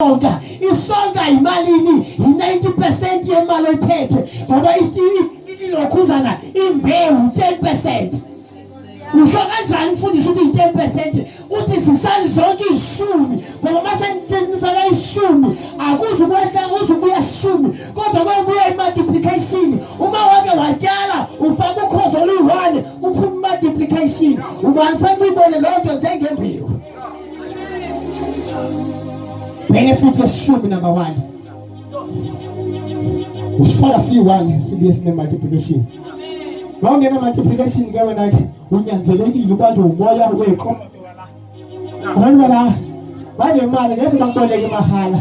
isonka isonka yimalini yi-90 percent yemali oyiphethe ngoba ilokhuzana imbewu 10 percent usho kanjani mfundisi ukuthi yi-ten percent uthi zisani zonke iy'shumi ngoba uma senifaka ishumi akuze ukwehla kuze ubuya sishumi kodwa kwebuya i-multiplication uma wake watyala ufaka ukhozi oluyi-one uphuma i-multiplication ubani fanele uyibone loo nto njengembewu Bheke futhi eshumi number 1. Usihlala siyi-1 sibuye sine-multiplication. Uma ungena multiplication ke wena ke unyanzelekile ubanjwe umoya weqo. Abantu bala banemali ngeke bakuboleke mahala.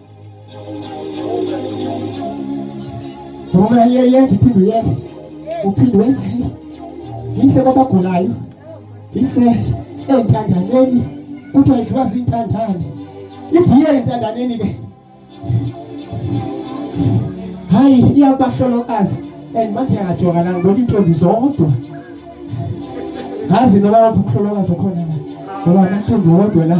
Ngoba iye yenze iphinde uyenze. Uphinde wenze. Yise kwabagulayo. Yise entandaneni. Kuthiwa idliwa zintandane. Idiye entandaneni ke. Hayi iyabahlolokazi and manje yajoka la ngibona intombi zodwa. Ngazi noma wathi ukuhlolokazi okhona la. Ngoba intombi wodwa la.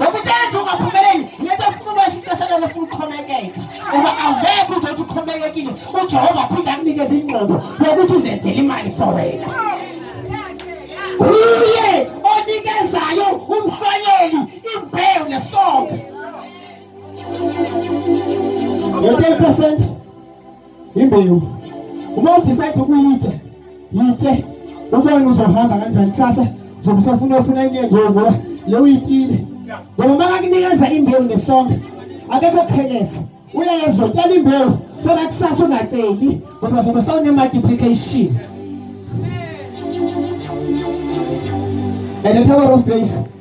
Ngokutenza ungaphumeleli ngeke ufuna uba isixeselelo ufuna ukukhomekeka ngoba awungeke uzothi ukhomekekile uJehova aphinde akunikeze ingqondo yokuthi uzenzele imali for wena. Kuye onikezayo umhlwanyeli imbewu nesonka. Ngo-10 percent imbewu uma udecide ukuyithe yithe ubone uzohamba kanjani kusasa uzobe usafuna ofuna enye nje ngoba le uyityile ngoba uma kakunikeza imbewu nesonke akekho khelesa uyayazi utyala imbewu sola kusasa ungaceli ngoba zobe sawune-multiplication and the tower of grace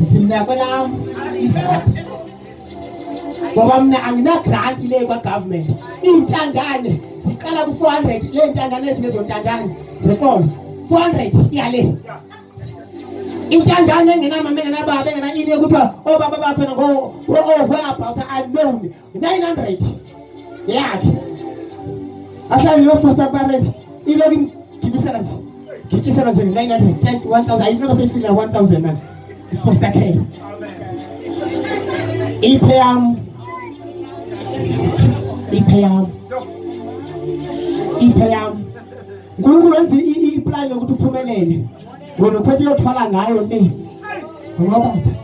Ngithi mina kwelam izaphi ngoba mina anginagranti le kwagovernment iintandane ziqala ku-four hundred le ntandane ezinezontandane zenkolo four hundred iyale intandane engenamama engenababa engenayini ekuthiwa obaba bakhona ngo-over about unknown 900 yakhe ahlale lo foster parent iloku ngibisela nje ngitshisela nje 900 10 1000 ayinoma seyifika 1000 manje foster care iphe yam iphe yam iphe yam uNkulunkulu wenza iplan yokuthi uphumelele wena ukhethe uyothwala ngayo ni ngoba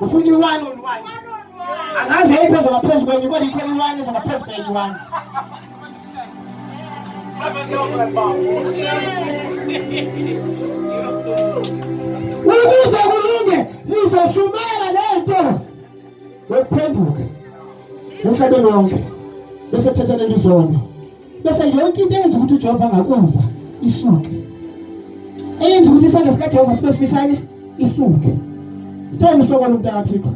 ufuna i-one on one angazi yeyiphi ezoba phezu kwenye kodwa ikhona i-one ezoba phezu kwenye i-one ukuze kulunge nizoshumayela lento yokuphenduka emhlabeni wonke bese thetha lento izona bese yonke into eyenza ukuthi uJehova angakuva isuke eyenza ukuthi isandla sikaJehova sibe sifishane isuke Ngicela usokola umuntu akathikho.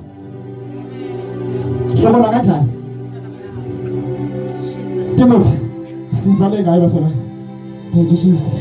Sokola kanjani? Timothy, sivale ngayo basona. Thank you Jesus.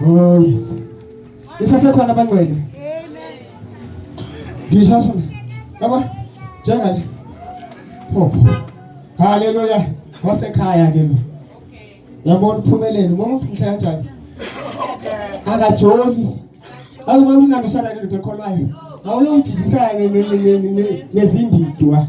Oh yes. Isasekhona abangcwele. Amen. Ngisho shona. Yabo. Njengani? Phopho. Haleluya. Wasekhaya ke lo. Yabona uphumelele. Ubona ukuthi mhla kanjani? Akajoli. Awubona umnandi usala nento ekholwayo. Awulojijisana nezindidwa.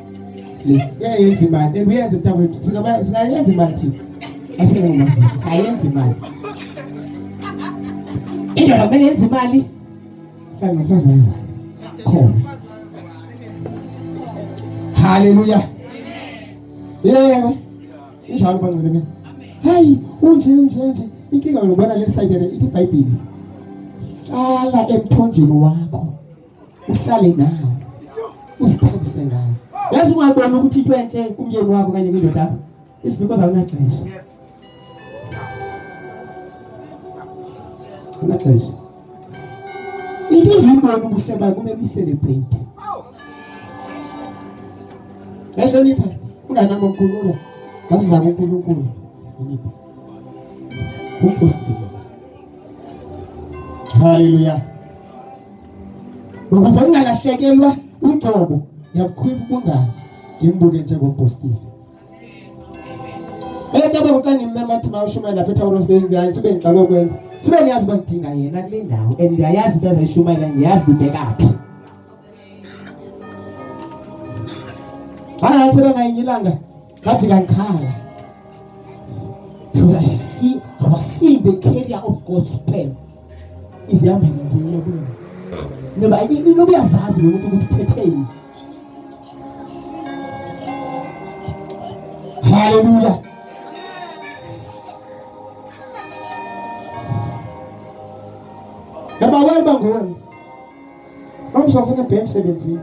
uyayenza imali and uyenza mntakwethu singayenza imali thina asingenamali sayenza imali indoda kumele yenze imali hlanga sazwayiwa khona haleluya yebo injalo banceleke hayi unje unje unje inkinga yokubona le side ithi ibhayibhili hlala emthonjeni wakho uhlale nawo usithabise ngawo yazi ungabona ukuthi into enhle kumyeni wakho kanye kwindoda yakho is because awunaxesha yes unaxesha into ezibona ubuhle bayo kumele uyicelebrate yahlonipha unganami unkulunkulu ngasizama unkulunkulu hlonipha umpostile haleluya ukuze ungalahlekelwa uqobo ngiyabukhwipha ubungane ngimbuke njengompostile Ecaba uxa ngimema athi mawushumayela lapha eThawuros bengiyazi sibe ngixaka ukwenza sibe ngiyazi uba ngidinga yena kule ndawo and ngiyayazi into azayishumayela ngiyazi ubhekaphi Hayi ngathela naye ngilanga ngathi kankhala because I see I was seeing the carrier of God's pen izihambile nje iyabulala ngoba noba uyazazi lokuthi ukuthi uphetheni haleluya yabawela uba nguwe Awuzofa na bem sebenzi.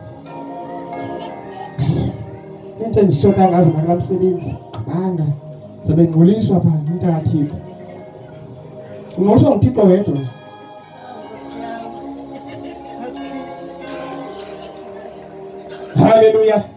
Into engishoda ngazo ngala msebenzi. Qhanga. Zabe ngquliswa pha umntaka Thixo. Ngosho ngithixo wedwa. Hallelujah.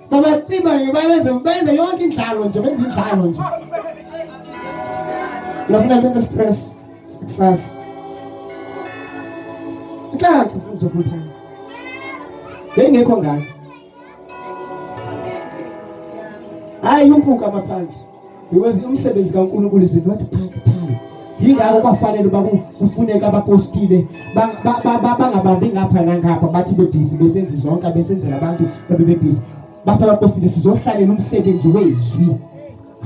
Babaciba nje bayenze benze yonke indlalo nje benze indlalo nje. Ngafuna benze stress success. Ikhaya ngifuna nje full time. Bengekho ngani. Hayi umpuka amaphanje. because umsebenzi kaNkulunkulu is not part time yingakho kwafanele uba kufuneka abapostile bangabambi ngapha nangapha bathi bebhizi besenzi zonke abesenzela abantu babe bebhizi bathi abapostile sizohlalela umsebenzi wezwi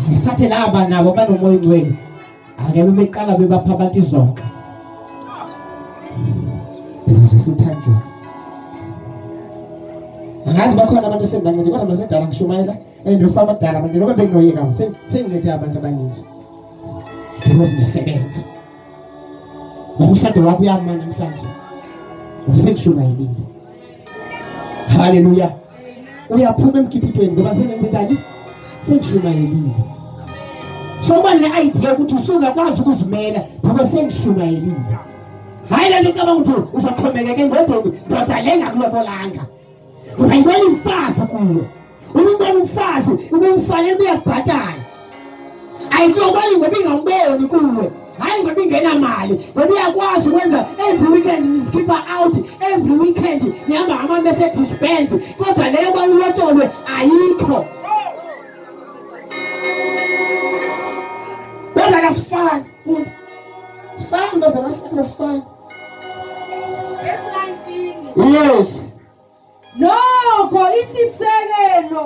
ayisathe laba nabo banomoya ongcwele ake bebeqala bebapha abantu izonka bhizi futhanjwa angazi bakhona abantu esengibancane kodwa masedala ngishumayela and usamadala manje lokho benginoyeka sengincede abantu abaninzi because ngiyasebenza nokushado wakho uyama namhlanje wasengishumayelile haleluya uyaphuma emkhiphithweni ngoba sengenze njani sengishumayelile so uba ne-idea ukuthi usungakwazi ukuzimela ngoba sengishumayelile hhayi le nto icabanga ukuthi uzoxhomekeke ngodongi ndoda le ngakulobolanga ungayibona imfazi kuyo umbona umfazi ubumfanele buyakubhatala ayilobali ngoba ingamboni kuwe hayi ngoba ingenamali ngoba uyakwazi ukwenza every weekend nizikhipha out every weekend nihamba ngama-mercedes benz kodwa leyo bayulotsholwe ayikho kodwa kasifani fundi sifani nto zona sifani Yes. Nokho isisekelo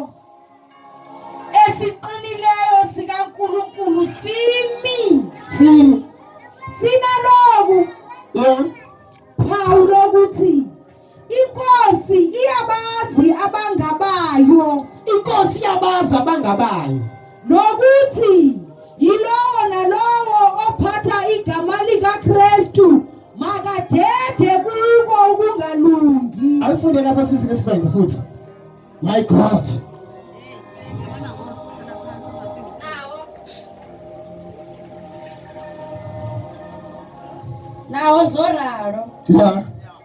esiqinileyo sikaNkulunkulu simi. Simi. Sinaloku. Yeah. Inkosi iyabazi abangabayo. Inkosi iyabazi abangabayo. Nokuthi yilowo nalowo ophatha igama likaKristu makadede kuko ukungalungi. Ayifunde lapha sisi nesifende futhi. My God. Nawo zwo ralo. Yeah.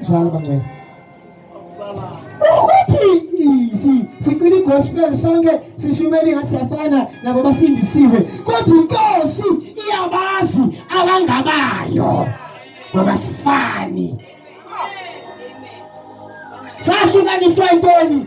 Sala bangcwele. Ukuthi sicwile igospel sonke sishumele ngathi siyafana nabo basindisiwe kodwa inkosi iyabazi abangabayo ngoba sifani sahlukaniswa intoni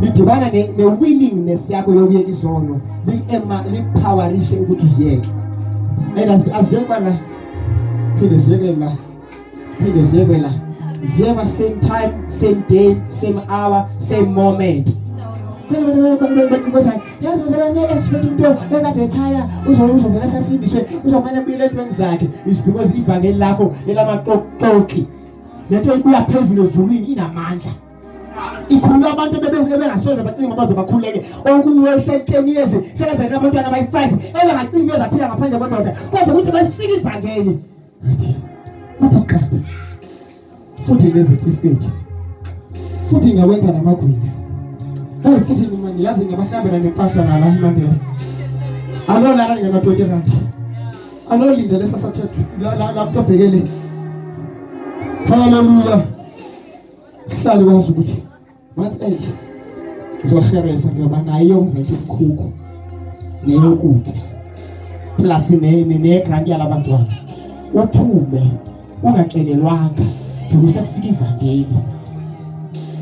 lidibana ne-willingness yakho yokuyeka izono likupowerishe ukuthi uziyeke and aziyekwa la phinde ziyeke la phinde ziyeke la ziyekwa same time same day same hour same moment yazi mzala ngeke expect umuntu ekade echaya uzovela sasindiswe uzomane buyele entweni zakhe is because ivangeli lakho elamaqoqoqi le nto ibuya phezulu ezulwini inamandla ikhulula abantu bebengasoze bacinga uba baze bakhuleke okunye wehle ten years sekezele abantwana abayi-five ebengacingi bezaphila ngaphandle kwendoda kodwa ukuthi balifike ivangeli athi kuthi qatha futhi nezitifiketi futhi ngiyawenza namagwinya hayi futhi nima ngiyazi ngiyabahlambela nempahla nala imandela alolala ngena-twenty rand anolinda lesasathethu la mntu abhekele haleluya Sihlale wazi ukuthi ngathi enje ngizoheresa ngiyoba naye yonke umkhukhu neyokudla plus nene negrant yalabantwana uphume ungacelelwanga duku sekufika ivangeli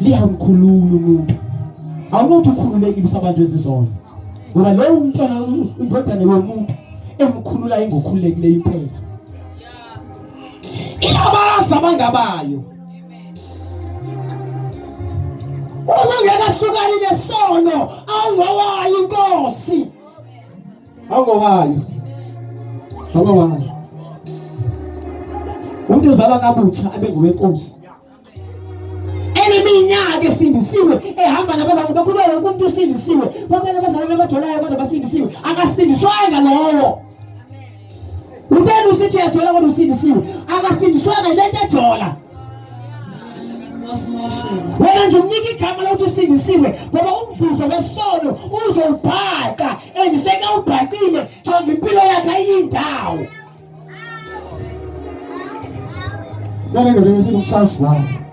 liyamkhulula umuntu awunothi ukhululekile usabantu ezizona ngoba lowo umntwana indodana yomuntu emkhulula ingokhululekileyo impela ilabazi abangabayo uma ngekahlukani nesono angowayo inkosi angowayo angowayo umuntu uzalwa kabutsha abe ngowenkosi iminyaka esindisiwe ehamba nabazalwane bakho kuba wonke umuntu usindisiwe bonke nabazalwane abajolayo kodwa basindisiwe akasindiswanga lowo Utheni usithi uyajola kodwa usindisiwe. Akasindiswanga yile nto ejola. Wena nje umnika igama lokuthi usindisiwe ngoba umvuzo wesono uzowubhaka and sekawubhakile njengoba impilo yakhe ayindawo. Wena nje usithi umsazwana.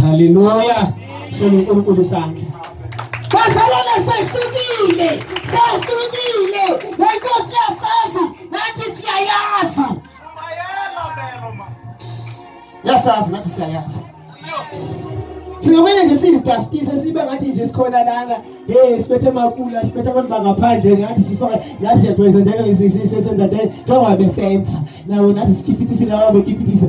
Haleluya. Shela uNkulunkulu isandla. Bazalwane sehlukile, sehlukile. Lenkosi yasazi, nathi siyayazi. Yasazi nathi siyayazi. Singamane nje sizidafutise sibe ngathi nje sikhona lana. Hey, sibethe makula, sibethe abantu bangaphandle ngathi sifaka ngathi siyadweza njalo ngisisise senza nje njengoba besenza. Nawo nathi sikipitise nawo bekipitise.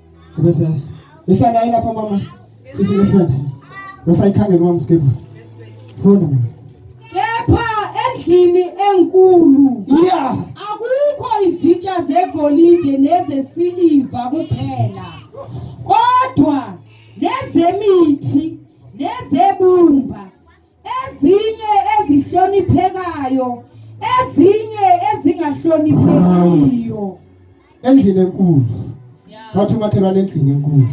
Kubese ihlala lapha mama sisi ngesikhathi. Usayikhangela mama skepha. Funda mina. Kepha endlini enkulu. Yeah. Akukho izitsha zegolide nezesiliva kuphela. Kodwa nezemithi nezebumba ezinye ezihloniphekayo ezinye ezingahloniphekiyo endlini enkulu ngathi umakhelwane endlini enkulu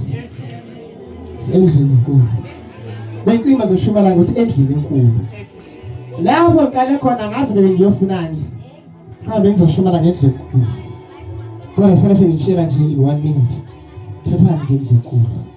endlini enkulu becinga beshumayela ukuthi endlini enkulu lapho qale khona ngazi bebe ngiyofunani kodwa bengizoshumayela ngendlela enkulu kodwa sele sengishela nje in one minute thethani ngendlela enkulu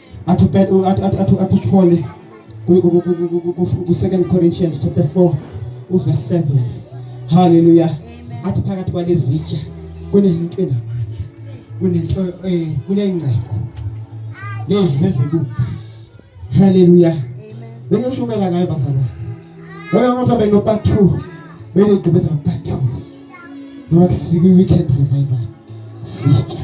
atuthole ku-second corinthians chapter 4 uverse 7 halleluya athi phakathi kwalezitsha kunento enamandla kunento eh, kunengcebo lezi zezibupha halleluya bengishumayela ngayo bazalwane loyo muntu abe no-part two benigqibeza no-part two ngoba kusiku-weekend revival sitsha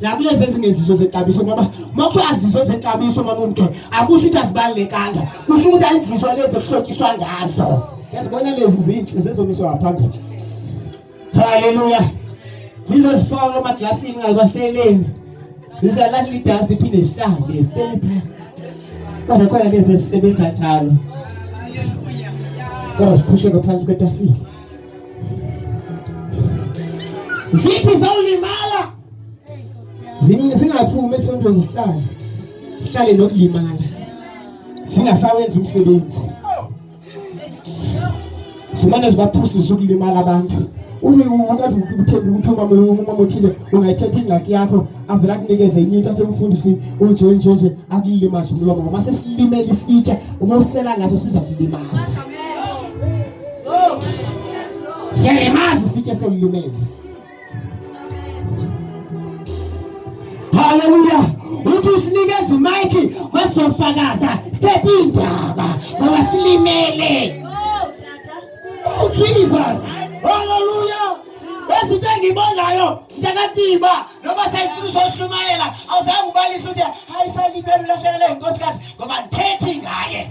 nakulezi ezinye izizwe zexabiso ngoba uma kuthiwa zizwe zexabiso noma umkhe akusho ukuthi azibalulekanga kusho ukuthi ayizizwa lezi okuhlotshiswa ngazo yazibona lezi zinhle zezomiswa ngaphambili haleluya zize zifakwe emaglasini ngabahleleni zizalahle idansi liphinde lihlale zihlele phela kodwa khona lezi ezisebenza njalo kodwa zikhusheke phansi kwetafile zithi zawulimala zingaphumi esontweni zihlale zihlale nokulimala zingasawenzi umsebenzi zimane zibaphusise ukulimala abantu uthi uma othile ungayithetha ingxaki yakho avela kunikeze enye into athi umfundisi unje nje nje akulilimazi umlomo ngoba sesilimela isitsha uma usela ngaso siza kulimaza Siyalimazi sithe somlumele. Haleluya. Uthi usinikeza imayiki masofakaza sithethe indaba ngoba silimele. Oh Jesus. Haleluya. Ezinto engibonayo ntakatiba noma sayifuna uzoshumayela awuzange ubalise ukuthi hayi salibele ulahlekele inkosi kazi ngoba ngithethe ngaye.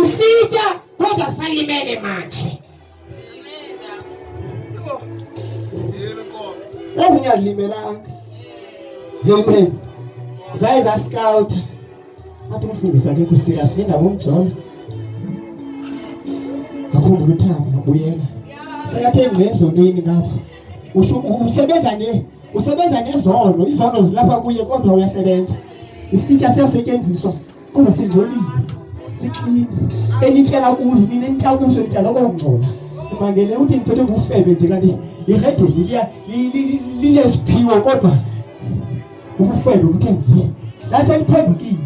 Usija kodwa salimele manje. Ezinye azilimelanga. Amen. Zaye za scout. Athi umfundisi akekho serious yena ngomjolo. Akhumbula uthando ubuyela. Seyathe ngezonini ngapha. Usebenza ne usebenza ngezono izono zilapha kuye kodwa uyasebenza isitsha siyasetshenziswa kodwa singcolile siklini enitshela kuzo nina enithakuso nitya loko ngcola mangele uthi ngiphethe ngufebe nje kanti irede liya linesiphiwo kodwa ubufebe kuthe nje laseliphendukile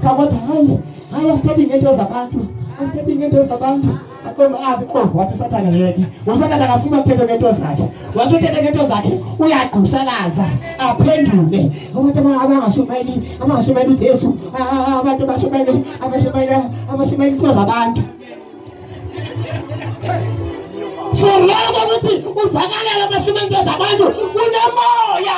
Kodwa hayi, hayi asithathi ngento zabantu. Asithathi ngento zabantu. Akomba athi ah, oh wathi usathana ngeke. Usathana akafuna ukuthetha ngento zakhe. Wathi uthetha ngento zakhe uyagqushalaza aphendule. Abantu abangashumayeli, abangashumayeli uJesu. Ah, ah, abantu bashumayeli, abashumayeli, abashumayeli into zabantu. Shurloko ukuthi uvakalele amashumayeli into zabantu. Unemoya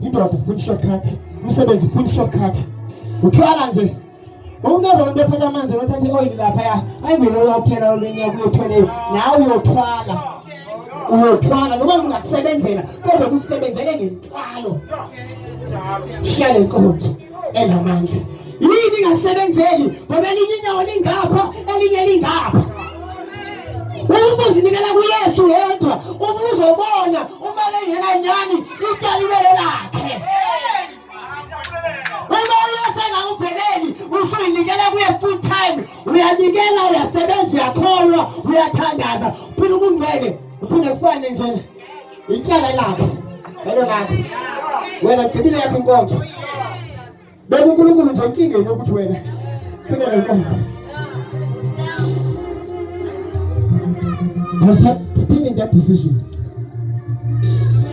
indoda ufuna i-shortcut umsebenzi ufuna i-shortcut uthwala nje wawunezona into ethatha amanzi nothatha i-oyili laphaya ayingeloyo kuphela olenya kuyothweleyo nawe uyothwala uyothwala noma kungakusebenzela kodwa kukusebenzele ngentwalo shiya le nkonzo enamandla yini ingasebenzeli ngoba elinye inyawo lingapha elinye lingapha uma uzinikela kuyesu yedwa uma uzobona uma kengena nyani ityala ibele lakhe uma uyosengakuveleli usuyinikela kuye full time uyanikela uyasebenza uyakholwa uyathandaza uphinde ukungcwele uphinde kufane njena Ityala lakhe lelo lakho wena gqibile yakho inkonzo bekunkulunkulu nje inkingeni yokuthi wena phinde le nkonzo I've taken that decision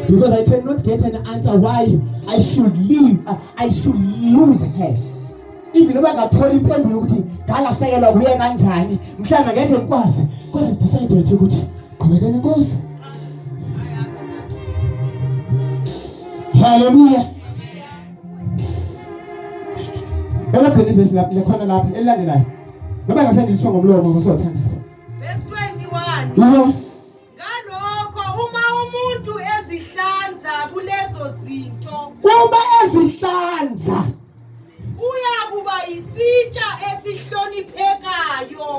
because I cannot get an answer why I should leave, uh, I should lose her. even uma ngathola impendulo ukuthi ngalahlekelwa kuye kanjani mhlawumbe ngeke ngikwazi kodwa decided ukuthi qhubekeni inkosi haleluya elagcina ivesi lapho lekhona lapho elilandelayo ngoba ngasendilisho ngomlomo ngosothandaza verse 21 Ngalokho uma umuntu ezihlanza kulezo zinto. Uma ezihlanza. Kuya kuba isitsha esihloniphekayo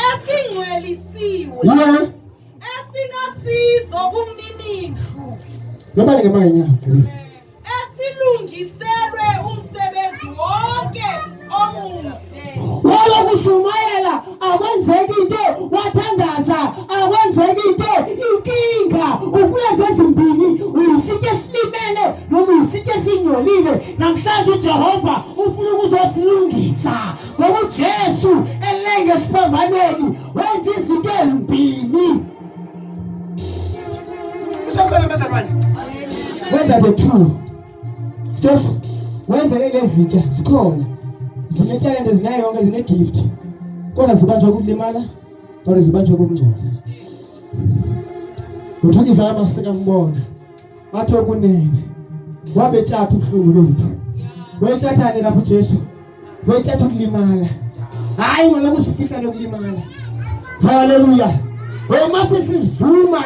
esingcwelisiwe. Yeah. Esinosizo kumninindlu. Nobani ngemanye nyawo. esilungiselwe umsebenzi wonke omuhle walo kushumayela akwenzeki into wathandaza akwenzeki into inkinga ukulezi ezimbili uyisithe esilimele noma uyisithe esingcolile namhlanje ujehova ufuna ukuzosilungisa ngoba ujesu elenge esiphambanweni wenza izinto ezimbili Usakhona bazalwane. Wenza the two. Just wenza lezitsha sikhona. Zinetalente zinayo yonke zine gift. Kodwa zibanjwa ukulimala, kodwa zibanjwa ukungcola. Uthukizama sikambona. ngathi okunene wabe tshatha ubuhlungu bethu wetshathane lapho Jesu wetshatha ukulimala hayi ngona kusifihla lokulimala haleluya uma sisivuma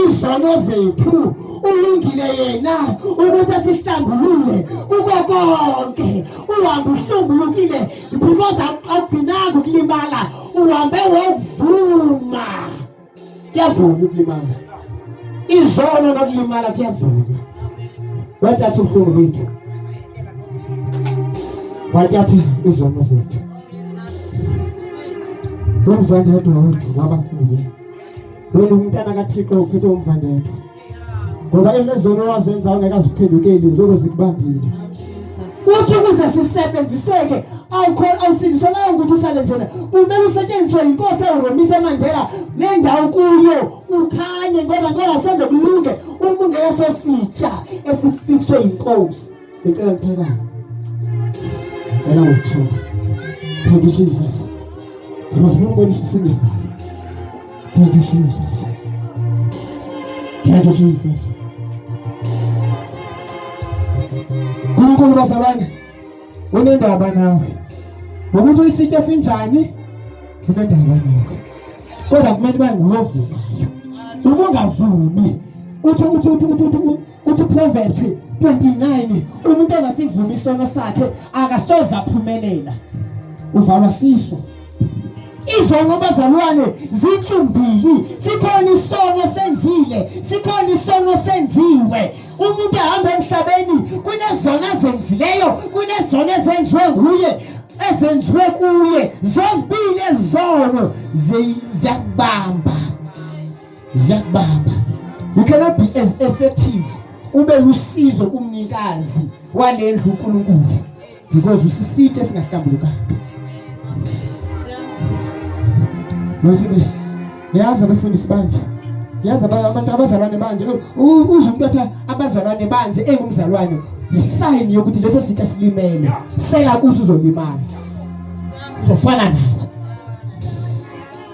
izono zethu ulungile yena ukuthi asihlambulule kuko konke uhambe uhlambulukile because akugcinanga ukulimala uhambe wovuma kuyavuma ukulimala izono nokulimala kuyavuma wathatha ubuhlungu bethu wathatha izono zethu lomvandedwa wethu wabakuye wena umntana kathixo uphethe umvandedwa ngoba emezono wazenza ungekaziphendukeli lokho zikubambile futhi ukuze sisebenziseke awukhona awusindiswa nayo ukuthi uhlale njena kumele usetshenziswe yinkosi eyomise emandela nendawo kuyo ukhanye ngoba ngoba senze kulunge uma ungeyesositsha esifikswe yinkosi Ngicela ngithakala. Ngicela ngithuka. Thank you Jesus. Ngifuna ukubonisa usingezo. Thank you Jesus. Thank you Jesus. Nkulunkulu bazalwane unendaba nawe. Ngokuthi uyisitsha sinjani unendaba nawe. Kodwa kumele bangiwovumayo. Uma ungavumi uthi uthi uthi uthi uthi uProverbs 29 umuntu ongasivumi isono sakhe akasoze aphumelela uvalwa siso izono bazalwane zintumbili sikhona isono senzile sikhona isono senziwe umuntu ehamba emhlabeni kunezono azenzileyo kunezono ezenziwe nguye ezenziwe kuye zozibili ezono ziyakubamba ziyakubamba you cannot be as effective ube lusizo kumnikazi walendlu uNkulunkulu because usisithe singahlambulukanga Ngisini yazi abafundisi banje yazi abantu abazalwane banje uze umuntu athi abazalwane banje engumzalwane yisign yokuthi leso sitha silimele sela kuzo uzolimala uzofana naye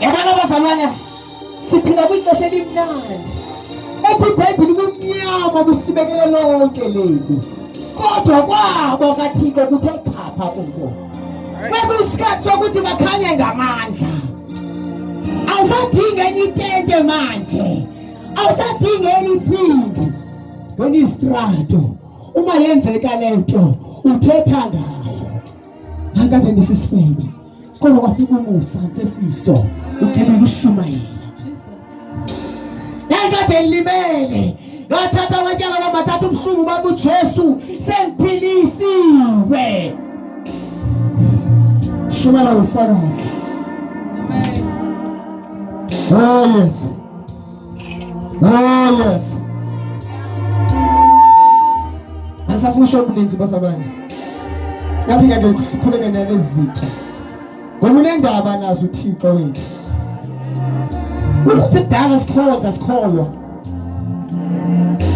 Yabona abazalwane siphila kwixesha elimnandi ethi ibhayibhile ubumnyama busibekele lonke leli kodwa kwabo kathixo kuthe chapha kubo bekuyisikhathi sokuthi bakhanye ngamandla awusadingi enye itente manje awusadingi enye iphindi ngenistrato uma yenzeka lento uthetha ngayo akade ndisisifebe kodwa kwafika umusa nsesiso ugibela ushumayela nayikade ngilimele ngathatha abanyala bamathatha ubuhlungu bami ujesu sengiphilisiwe shumela ngofakazi oh yes Oh yes. Asafuna shop ninzi bazalwane. Yafika ke khuleke nalezi zinto. Ngoba unendaba nazo uThixo wethu. Ukuthi dala sikhonza sikholwa.